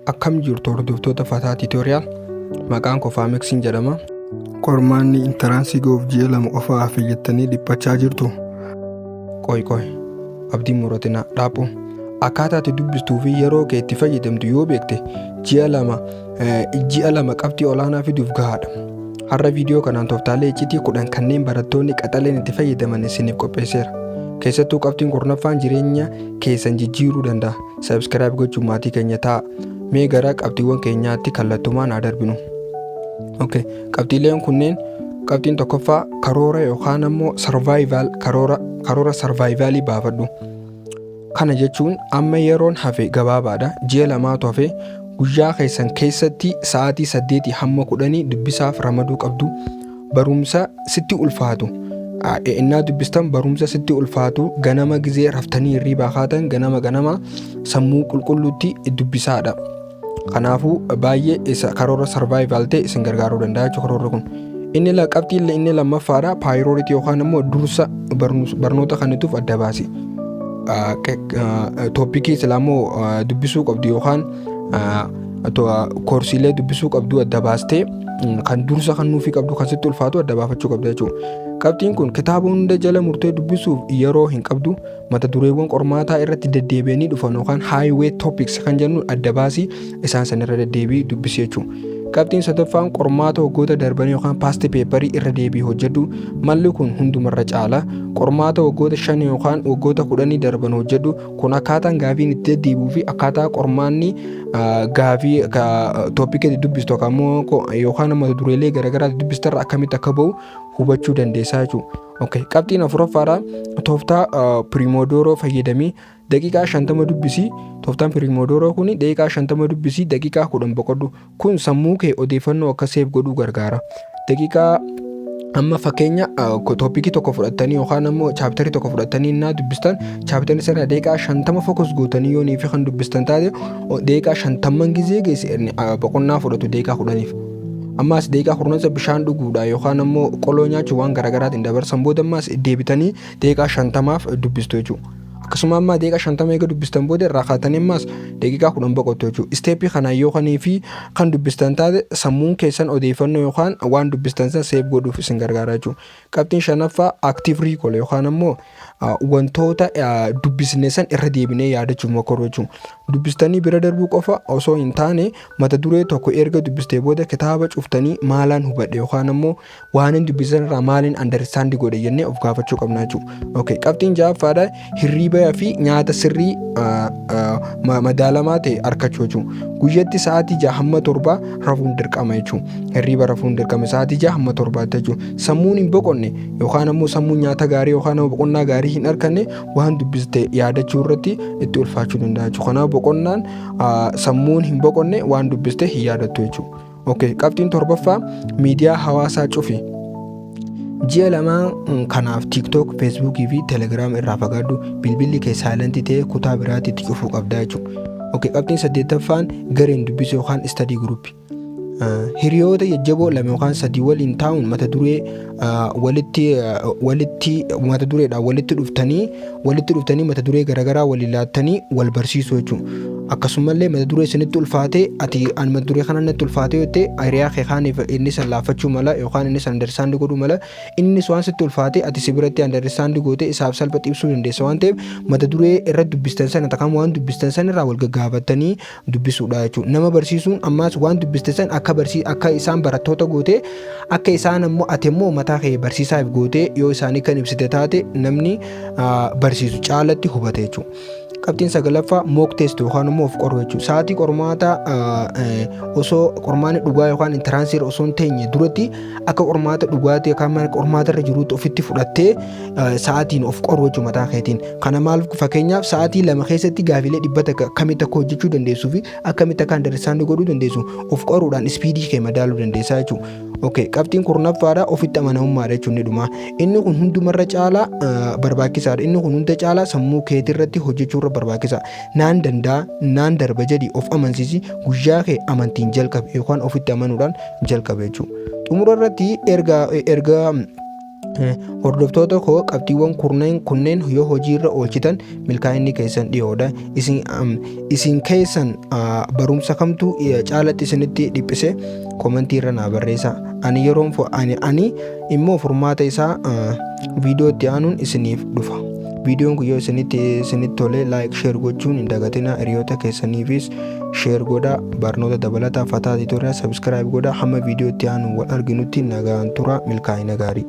Akkam jirtu hordoftoota Fataa Tiitooriyaal maqaan koo Faameksiin jedhama. Qormaanni intaraansii goof ji'a lama qofa hafe jettanii dhiphachaa jirtu. Qoy qoy abdii muratinaa dhaaphu akkaataa itti dubbistuu fi yeroo kee itti fayyadamtu yoo beekte ji'a lama ji'a lama qabxii olaanaa fiduuf gahaadha. Har'a viidiyoo kanaan tooftaalee iccitii kudhan kanneen barattoonni qaxaleen itti fayyadaman isiniif qopheesseera. Keessattuu qabxiin kurnaffaan jireenya keessan jijjiiruu danda'a. Subscribe gochuun maatii keenya ta'a. Mee gara qabxiiwwan keenyaatti kallattumaan haa darbinu. Okay. Qabxiileen kunneen qabxiin tokkoffaa karoora yookaan ammoo sarvaayivaal karoora karoora sarvaayivaalii baafadhu. Kana jechuun amma yeroon hafe gabaabaadha. Ji'a lamaatu hafe guyyaa keessan keessatti sa'aatii saddeetii hamma kudhanii dubbisaaf ramaduu qabdu. barumsa sitti ulfaatu a- e- innaa dubbistan barumsa sitti ulfaatu ganama gizee raftanii hirriibaa kaatan ganama ganama sammuu qulqulluutti dubbisaadha kanaafuu baay'ee isa karoora sarvaayivaal ta'e isin gargaaruu danda'a jechuudha karoorri kun inni la- qabxiin la- inni lammaffaadha paayirooritii yookaan immoo dursa barnus- barnoota kanituuf adda baasi tooppikii silaa immoo dubbisuu qabdu yookaan ah, koorsiilee dubbisuu qabdu adda baastee kan dursa kan nuufii qabdu kan sitti ulfaatu adda baafachuu qabda jechuudha. Qabxiin kun kitaaba hunda jala murtee dubbisuuf yeroo hin qabdu mata dureewwan qormaataa irratti deddeebi'anii dhufan yookaan highway topics kan jennu adda baasii isaan sanirra deddeebii dubbisi jechuudha. Qabxiin sadaffaan qormaata waggoota darbanii yookaan paasti peeparii irra deebii hojjedhu malli kun hundumarra caala qormaata waggoota shan yookaan waggoota kudhanii darban hojjedhu Kun akkaataan gaafiin itti deddeebi'uu fi akkaataa qormaanni gaafii tooppikii itti dubbistu yookaan ammoo dureelee garaagaraa itti dubbistu irraa akkamitti akka ba'u hubachuu dandeessaa jechuudha. Okay. Qabxiin afuraffaadha tooftaa piriimodooroo fayyadamii daqiiqaa shantama dubbisii tooftaan piriimodooroo kun daqiiqaa shantama dubbisii daqiiqaa kudhan boqodhu Kun sammuu kee odeeffannoo akka seef godhuu gargaara. Daqiiqaa amma fakkeenya toopikii tokko fudhattanii yookaan ammoo chaaptarii tokko fudhattanii innaa dubbistan chaaptarii sana daqiiqaa shantama fokus gootanii yoo niifi kan dubbistan taate daqiiqaa shantamman gizee geesse boqonnaa fudhatu daqiiqaa kudhaniif. Ammaas daqiiqaa kurnansa bishaan dhuguudha yookaan ammoo qoloo nyaachuu waan garaagaraatiin dabarsan booda ammaas deebitanii daqiiqaa shantamaaf dubbistu jechuudha. Akkasuma amma deeqa shantama eega dubbistan booda irraa kaatanii ammaas daqiiqaa kudhan boqottu jechuudha. Isteeppii kanaan yoo kanii fi kan dubbistan taate sammuun keessan odeeffannoo yookaan waan dubbistan san seef godhuuf isin gargaara jechuudha. Qabxiin shanaffaa active recall yookaan ammoo wantoota dubbisne san irra deebinee yaadachuuf mokoruu jechuudha. Dubbistanii bira darbuu qofa osoo hin taane mata duree tokko erga dubbistee booda kitaaba cuftanii maalaan hubadhe yookaan ammoo waanin dubbisan irraa maaliin understand godhe jennee of gaafachuu qabna jechuudha. Okay, qabxiin ja'affaadha hirriibaa fi nyaata sirrii ah, ah, ma- madaalamaa ta'e argachuu jechuudha. Guyyatti sa'aatii ja'a hamma torbaa rafuun dirqama jechuudha. Hirriiba rafuun dirqama sa'aatii ja'a hamma torbaatti jechuudha. Sammuun hin boqonne yookaan ammoo sammuun nyaata gaarii yookaan ammoo boqonnaa gaarii hin arganne waan dubbiste yaadachuu irratti itti ulfaachuu danda'a jechuudha. Kanaaf boqonnaan ah, sammuun hin boqonne waan dubbiste hin yaadattu jechuudha. Okay, qabxiin torbaffaa miidiyaa hawaasaa cufi. Ji'a lamaa mm, kanaaf TikTok, Facebook fi Telegram irraa fagaadhu. Bilbilli kee saayilantii ta'ee kutaa biraatti itti cufuu qabdaa jechuudha. Okay, qabxiin saddeettaffaan gareen dubbisuu yookaan study group. Uh, hiriyoota jajjaboo lama yookaan sadii waliin taa'uun mata duree walitti walitti mata dureedhaan walitti dhuftanii walitti dhuftanii mata duree garaagaraa walii laattanii wal barsiisuu jechuudha. Akkasumallee mata duree isinitti ulfaatee ati ani mata duree kana natti ulfaatee jettee hiriyaa kee kaaniif inni san laaffachuu mala yookaan inni san andarsaandi godhuu mala innis waan sitti ulfaatee ati si biratti andarsaandi gootee isaaf salpha ibsuu dandeessa waan ta'eef mata duree irra dubbistan sana takkaan waan dubbistan sana irraa wal gaggaafattanii dubbisuudha jechuudha. Nama barsiisuun ammaas waan dubbiste san akka barsii akka isaan barattoota gootee akka isaan ammoo ati immoo mataa kee barsiisaaf gootee yoo isaanii kan ibsite taate namni ah, barsiisu caalatti hubate jechuudha. Qabxiin sagalaffaa mock test yookaan immoo of qoruu jechuudha. Sa'aatii qormaataa ah, eh, osoo qormaanni dhugaa yookaan intiraansiirra osoo hin teenye duratti akka qormaata dhugaatii yookaan mana qormaata irra jiruutti ofitti fudhattee eh, sa'aatiin of qoru jechuudha mataa keetiin. Kana maal fakkeenyaaf sa'aatii lama keessatti gaafiilee dhibba takka akkamitti akka hojjechuu dandeessuu fi akkamitti akka andarsaandii godhuu dandeessu of qoruudhaan ispiidii kee madaaluu dandeessaa jechuudha. Okay, qabxiin kurnaffaadha ofitti amanamummaadha jechuun ni dhuma. Inni kun hundumarra caalaa eh, barbaachisaadha. Inni kun hunda caalaa sammuu keetirratti hojjechuurra barbaachisa. Naan danda'a, naan darba jedhi of amansiisi guyyaa kee amantiin jalqabe yookaan ofitti amanuudhaan jalqabe jechuudha. Xumura irratti erga erga Hordoftoota koo qabxiiwwan kurneen kunneen yoo hojiirra oolchitan milkaa'inni keessan dhiyoodha. Isin, am, isin keessan ah, barumsa kamtu eh, caalatti isinitti dhiphise komentii irra naa barreessaa. Ani yeroon fo- ani, ani immoo furmaata isaa ah, viidiyoo itti aanuun isiniif dhufa. Viidiyoon kun yoo isinitti isinitti tole like share gochuun hin dagatina hiriyoota keessaniifis share godha barnoota dabalataa fataa tutorial subscribe godha hamma viidiyoo itti aanu wal arginutti nagaan tura milkaa'ina gaarii.